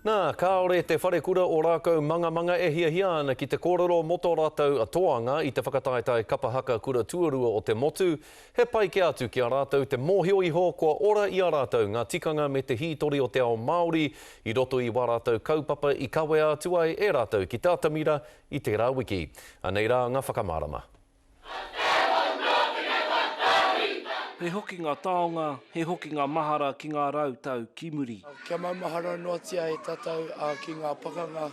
Nā, kāore te wharekura o Rākau Mangamanga e hiahia ana ki te kōrero mō tō rātou toanga i te whakataetae Kapa Haka Kura Tuarua o te Motu, he pai kē atu ki a rātou te mōhio iho kua ora i a rātou ngā tikanga me te hītori o te ao Māori i roto i wā rātou kaupapa i kawea atu ai e rātou ki te atamira i tērā wiki. Anei rā nga whakamārama. He hoki ngā taonga, he hoki ngā mahara ki ngā rau tau ki muri. Kia maumahara noatia e tātou ki ngā pakanga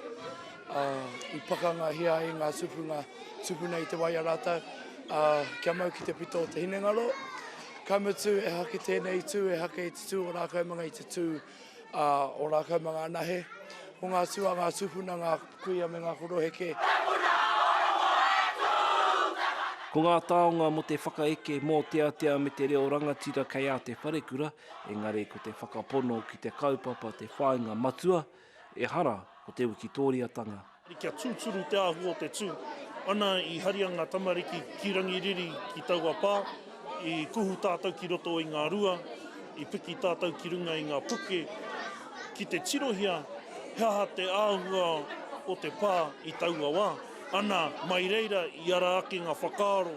i pakangahia ai ngā tūpuna, tūpuna i te wai a rātou, kia mau ki te pito o te hinengaro. Ka mutu, ehake tēnei tū, ehake i te tū o Rākaumangai i te tū. a ora kau ma nga anahe ko nga tua nga tupuna nga kuia me nga koroheke. He puna oromo e tu te mana. Ko ngā taonga mō te whakaeke, mōteatea me te reo rangatira kei a te wharekura, engari ko te whakapono ki te kaupapa te whāinga matua, ehara ko te wikitōriatanga. Kia tūturu te āhua o te tū. Ana i haria ngā tamariki ki Rangiriri ki taua pā, i kuhu tātou ki roto i ngā rua, i piki tātou ki runga i ngā puke, ki te tirohia he aha te āhua o te pā i taua wā. Ana, mai reira i ara ake ngā whakaaro.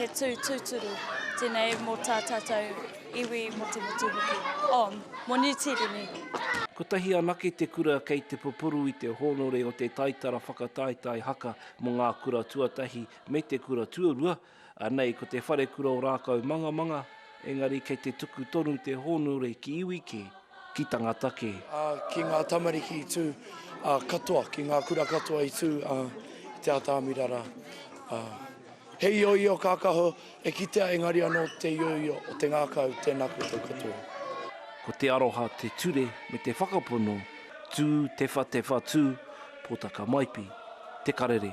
He tū tūturu tēnei mō tā tātou iwi, mō te motu hoki. Oh, mō Niu Tīreni. Kotahi anake te kura kei te pupuru i te hōnore o te taitara whakataetae haka mō ngā kura tuatahi me te kura tuarua, Anei ko te wharekura o Rākau Mangamanga, engari kei te tuku tonu te hōnore ki iwi kē, ki tangata kē. Ā, ki ngā tamariki i tū, ā, katoa, ki ngā kura katoa i tū, ā, i te atamira rā, ā. He ioio kākahu e kitea, engari anō te ioio o te ngākau, tēnā koutou katoa. Ko te aroha te ture me te whakapono, tū, tewha, tewha, tū, Pōtaka Maipi, Te Karere.